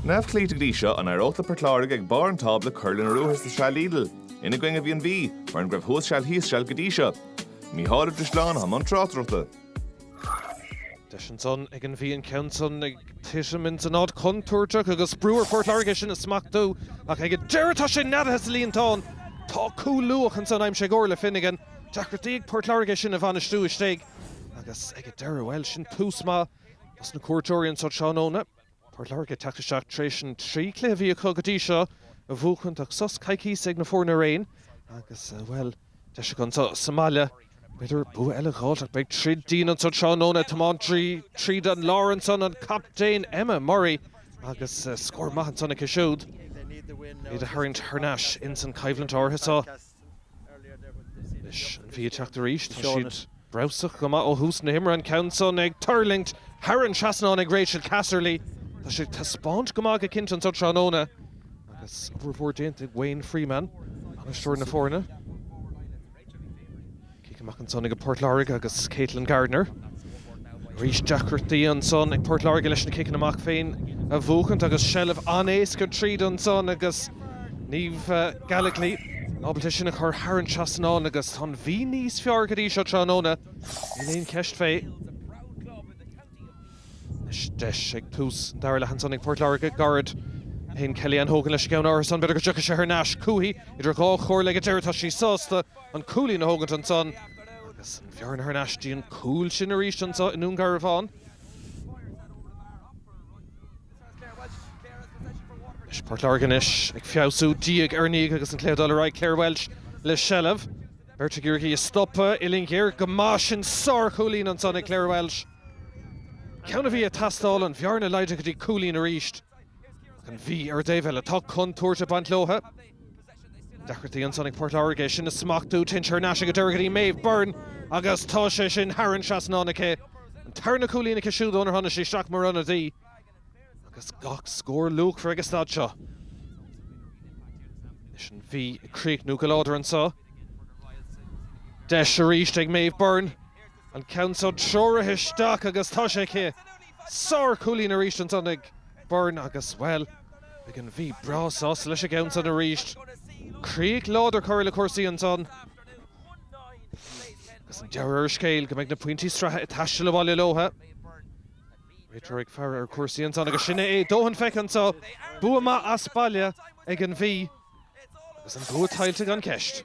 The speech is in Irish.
Neamhchloíte go dtí seo, an éireodh le Port Láirge ag barr an tábla cur lena ruathar sa tsraith Lidl? Ina gcoinne a bhí an Mhí, mar an go raibh thuas seal thíos seal go dtí seo. Mícheál Ó Drisleáin atá i mbun tráchtaireachta. Deis ansan ag an Mhí an ceann san ag titim ins an áit chontúirteach agus brú ar Phort Láirge é sin a smachtú. Ach ag an deireadh tá sé neadaithe sa líontán! Tá cúl luath ansan aimsithe ag Orla Finnegan. Deacrachtaí ag Port Láirge é sin a bhainistiú istigh. Agus ag an deireadh, bhuel, sin tús maith dos na cuairteoirí anso tráthnóna. Port Láirge teacht isteach tréis an trí cluiche a bhí acu go dtí seo a bhuachaint ach sos coicíse ag na foirne araon agus, bhuel, deis acu anseo sa mbaile b'fhéidir bua eile a dh'fháilt ach beidh troid dian anseo tráthnóna. Tiomáint tríd an lár ansan an captaen Emma Murray agus scór maith ansan aici siúd iad a tharraingt thar n-ais insan choimhlint áirithe so. Anois an Mhí ag teacht arís. Tá siad breabhsach go maith ó thús na himeartha, an ceann san ag tuirlingt thar an trasnán ag Rachel Casserly. Tá siad ag taispeáint go maith go cinnte anseo tráthnóna agus obair mhór déanta ag Wayne Freeman, bainisteoir na foirne. Cic amach ansan ag Port Láirge agus Katelyn Gardner. Arís deacrachtaí ansan ag Port Láirge leis na ciceanna amach féin a bhuachaint agus seilbh an-éasca tríd ansan agus Niamh Gallogly ábalta sin a chur thar an trasnán agus tá an Mhí níos fearr go dtí seo tráthnóna. Níl aon cheist fé. Anois deis ag tús an dara leath ansan ag Port Láirge. Gairid ó shin Kellyann Hogan leis an gceann áirithe san. B'fhéidir go dtiocfaidh sé thar n-ais chúithi idir dhá chomhairle ag a deireadh tá sí sásta. an cúilín a thógaint ansan agus an bheárna thar n-ais dtí an cúl sin arís anso i nDún Garbhán. Anois Port Láirge anois ag feabhsú diaidh ar ndiaidh agus an cluiche ag dul ar aghaidh. Clare Walsh le seilbh. Beirt ag iarraidh í a stopadh. Uillinn ghéar go maith sin. Sár-chúilín ansan ag Clare Walsh. Ceann a bhí ag teastáil, an bheárna laghdaithe go dtí cúilín arís. Ach an Mhí ar an dtaobh eile. Tá contúirt ag baint leotha. Deacrachtaí ansan ag Port Láirge é sin a smachtú. Téann sé thar n-ais ag an deireadh go dtí Meadhbh Byrne agus tá sé sin thar an trasnán aici. An tarna cúilín aici siúd ónar tháinig sí isteach mar ionadaí agus gach scór luachmhar ag an staid seo. Anois an Mhí ag críochnú go láidir anso. Deis arís ag Meadhbh Byrne an ceann so treoraithe isteach agus tá sé aici. Sár chúilín arís ansan ag Byrne agus, bhuel, beidh an Mhí breá sásta leis an gceann san arís. Críoch láidir curtha le cúrsaí ansan agus an dealramh ar an scéal go mbeidh na pointí sraithe ag taisteal abhaile leotha. Réiteoir ag faire ar chúrsaí ansan agus sin é é. Dóthain feicthe anso. Bua maith as baile ag an Mhí agus an bua tuillte gan cheist.